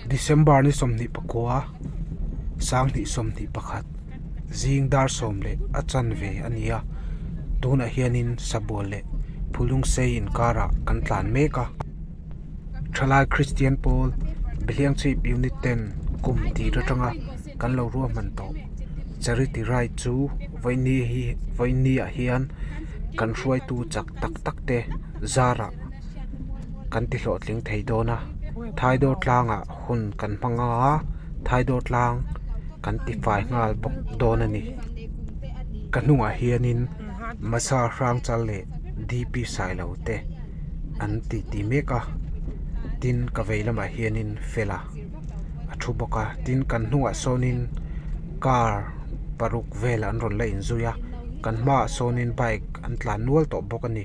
December ni sawmhnih pakua, Sanghnih sawmhnih pakhat, zing dar sawm leh a chan ve a ni a, tunah hianin sabual leh phulung sei inkarah kan tlan mek a. Thalai Kristian pawl biahleng chhip Unit 10 kum tih atanga kan lo ruahman tawh Charity Ride chu vawinia hian kan hruaitu chak tak tak te zarah, kan tihlawhtling thei dawn a thaidor tlangah hun kan hmang a thaidor tlang kan tifai nghal bawk dawn a ni ka hnungah hianin Masa hrang chal leh D P Sailo te an ti ti mek a tin ka vei lamah hianin Fela a thu bawk a tin kan hnungah sawnin car paruk vel an rawn la inzui a kan hmaah sawnin bike an tlan nual tawh bawk a ni.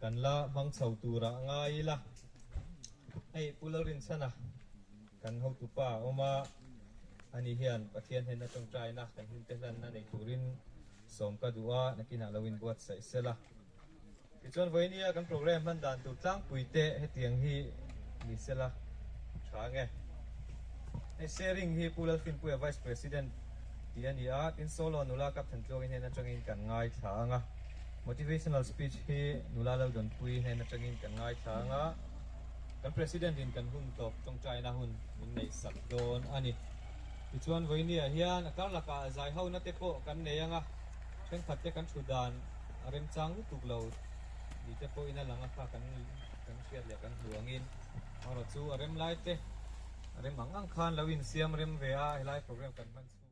Kan la hmang chho tura a ngai ila, hei Pu Larinchhana kan hotu pa a awm a, ani hian Pathian hnen atang taina kan hmingte hlanna nei turin sawm ka duh a, nakinah lo inbuatsaih sela. Tichuan Vawihnia kan programme hman dan tur tlangpui te hetiang hi ni sela tha nge. Hei sharing hi Pu Lalthinpuia Vice President tih a ni a, tin Solo nula Kapthan Tluangin hnen atangin kan ngaithla ang a. Motivational speech hi nula Laldawnpui nen atangin kan ngaithlang a, kan President in kan hun tawp tawngtaina hun min neih sak dawn a ni. Tichuan Vawiniah hian a karlakah a zai ho nate pawh kan nei ang a, thenkhat te kan thu dan a remchang lutuk lo ni te pawhin a lang a kha kan kan hriat leh kan hmu angin hmarawh chu a rem lai te a rem ang ang khan lo insiam rem ve a, helai program kan hman chu.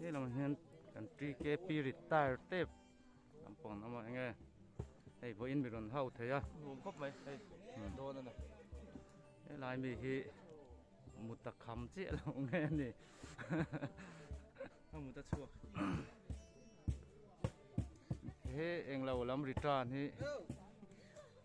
Helang ah hian kan TKP retire tep kan pawn lam ah enge hei vawiin mi rawn hau thei a nuam khawp mai hei dawn a ni helai mi hi muta kham chiah lo nge a ni a muta chhuak he englo lam return hi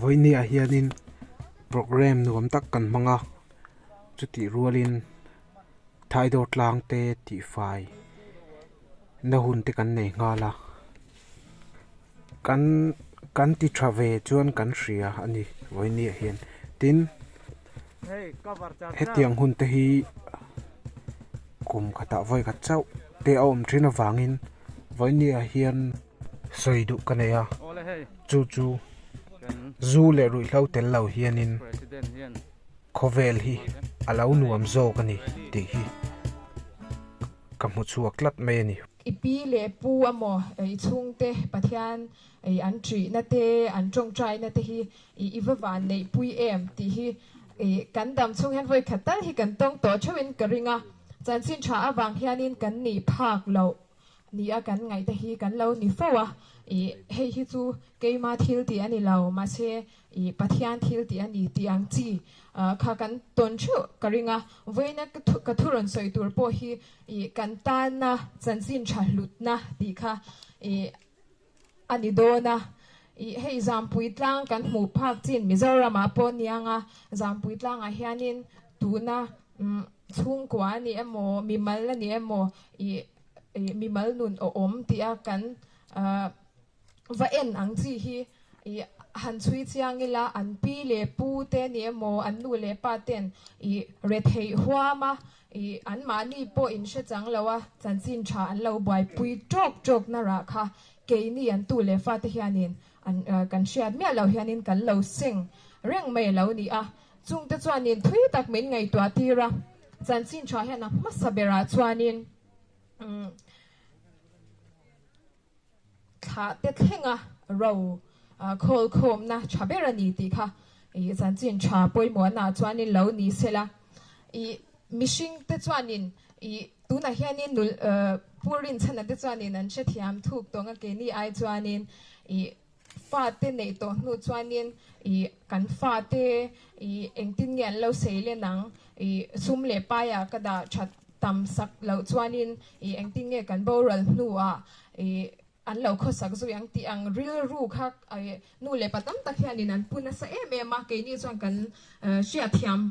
Vawihniah hianin programme nuam tak kan hmang a, chutih rualin Thaidor tlang te tifai na hun te kan nei nghal a, kan kan ti tha ve chuan kan hria a ni Vawihniah hian. Tin, hetiang hun te hi kum khatah vawi khat chauh te a awm thin avangin Vawihniah hian. sawi duh ka nei a, chu chu zu leh ruihhlo tel lo hianin khawvel hi a lo nuam zawk a ni tih hi ka hmu chhuak tlat mai a ni. I pi leh pu emaw i chhungte Pathian an ṭihna te, an ṭawngṭaina te hi i va van neihpui em tih hi kan dam chhung hian vawi khat tal hi kan tawng tawh ṭheuhin ka ring a, chanchin ṭha avang hianin kan nih phak loh Ni a kan ngaihte hi kan lo ni fo a, ih, hei hi chu keima thil tih a ni lo, mahse, ih, Pathian thil tih a ni tih ang chi ah kha kan tawn theuh ka ring a, vawiina ka thu rawn sawi tur pawh hi, ih, kan tanna chanchin tha hlutna tih kha, ih, a ni dawn a, ih hei Zangpui tlang kan hmuh phak chin Mizoramah pawh a ni ang a, Zangpui tlangah hianin tuna chhungkua a nih emaw, mimal a nih emaw ih ih mimal nun a awm tih a kan va en ang chi hi ih han chhui chiang ila an pi leh pu te a nih emaw an nu leh pa ten ih retheih huam a, I anmahni pawh in hre chang lo a, chanchin tha an lo buaipui tawk tawk na rah kha keini an tu leh fate hianin an kan hriat miah loh hianin kan lo seng reng mai lo ni a, chungte chuanin thui tak min ngaihtuah tir a, chanchin tha hian a hmasa berah chuanin umm. Thlahte thlenga ro khawl khawmna tha ber a ni tih kha i chan chin tha pawimawhnaah chuanin lo ni sela i mihringte chuanin i tunah hianin nulh pu rinchhana te chuanin an hrethiam thuk tawnga keini ai chuanin i Fate neih tawh hnu chuanin i kan fate i engtin nge an lo sei len ang i sum leh paia ka dah that tam sak loh chuanin i engtin nge kan boral hnuah i an lo khawsak zui ang tih ang rilru kha i nu leh pa tam tak hianin an pun nasa em em a keini chuan kan hriatthiam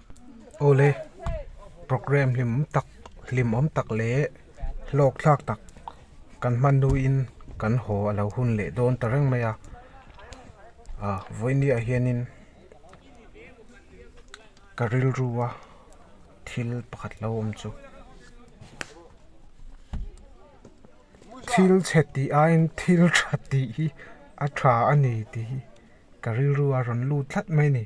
awle program hlim tak hlim awm tak leh hlawk thlak tak kan hmannuiin kan haw a lo hun leh dawn ta reng mai a ah vawiiniah hianin ka rilru a thil pakhat lo awm chu thil chhe tih aiin thil tha tih hi a tha a ni tih hi ka rilru a rawn lut tlat mai a ni.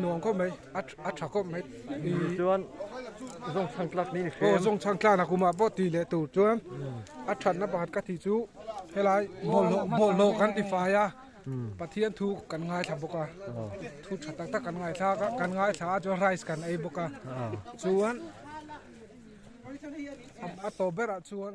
nuam khawp mai a tha khawp mai tichuan zawngchhang tlak ni ni hrem aw zawngchhang tlak na kumah pawh tih leh tur chuan a thatna pakhat ka tih chu helai bawlhhlawh bawlhhlawh kan ti fai a pathian thu kan ngaithla bawk a thu tha tak tak kan ngaithla a kan ngaithla a chuan rice kan ei bawk a chuan a tawp berah chuan